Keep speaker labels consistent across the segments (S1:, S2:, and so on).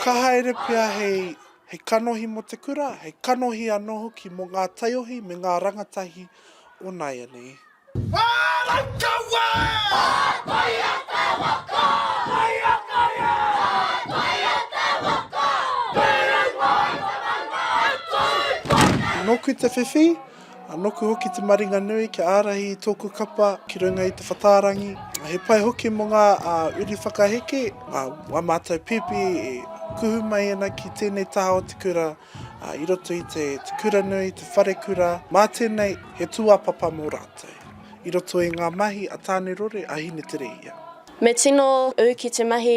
S1: Ka haere pea hei kanohi mō te kura, hei kanohi anō hoki mō ngā taiohi me ngā rangatahi o nāianei. Nōku te whiwhi, A noku hoki te maringa nui kia ārahi i tōku kapa ki runga i te whatārangi. He pai hoki mo ngā uri whakaheke, a mātou pēpi e kuhu mai ana ki tēnei taha o te kura, i roto i te kura nui, te wharekura, mā tēnei he tūāpapa mō rātou i roto i ngā mahi a Tāne Rore, a Hineterehia. Me tino
S2: ū ki te mahi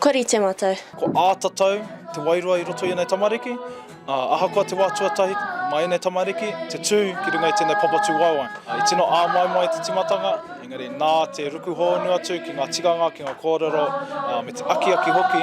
S2: Kua rite matou. Ko ā tatau
S3: te wairua i roto i enei tamariki, a ahakoa te wa tuatahi ma enei tamariki, te tu ki runga i tenei papatu waewae. I tino āmoemoe te timatanga, engari nā te ruku hoonu atu ki nga tikanga, ki nga korero, me te akiaki hoki,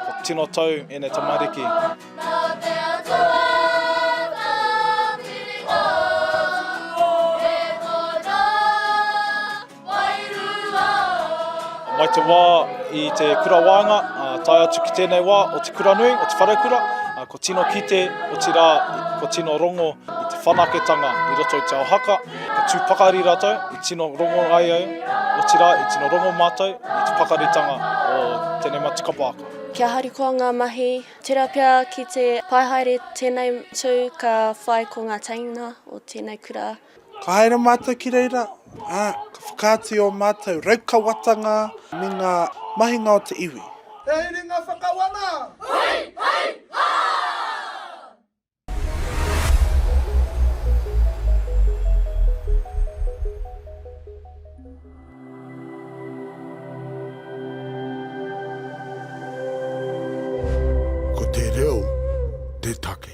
S3: kua tino tau enei tamariki. Mai te wā i te kura waenga, tae atu ki tēnei wā o te kura nui, o te wharekura, ko tino kite, otirā, ko tino rongo i te whanaketanga i roto i te ao haka, ka tū pakari rātou, i tino rongo ai au, otirā, i tino rongo mātou i te pakaritanga o tēnei matukapa ako. Kia harikoa ngā
S2: mahi, tērā pea ki te pai haere tēnei tū ka whai ko ngā teina o tēnei kura. Ka haere mātou
S1: ki reira, ā, ka whakaatu i ō mātou raukawatanga me ngā mahinga o te iwi. He iringa whakawana! Hai! Hai! Hā! Ko te reo te take.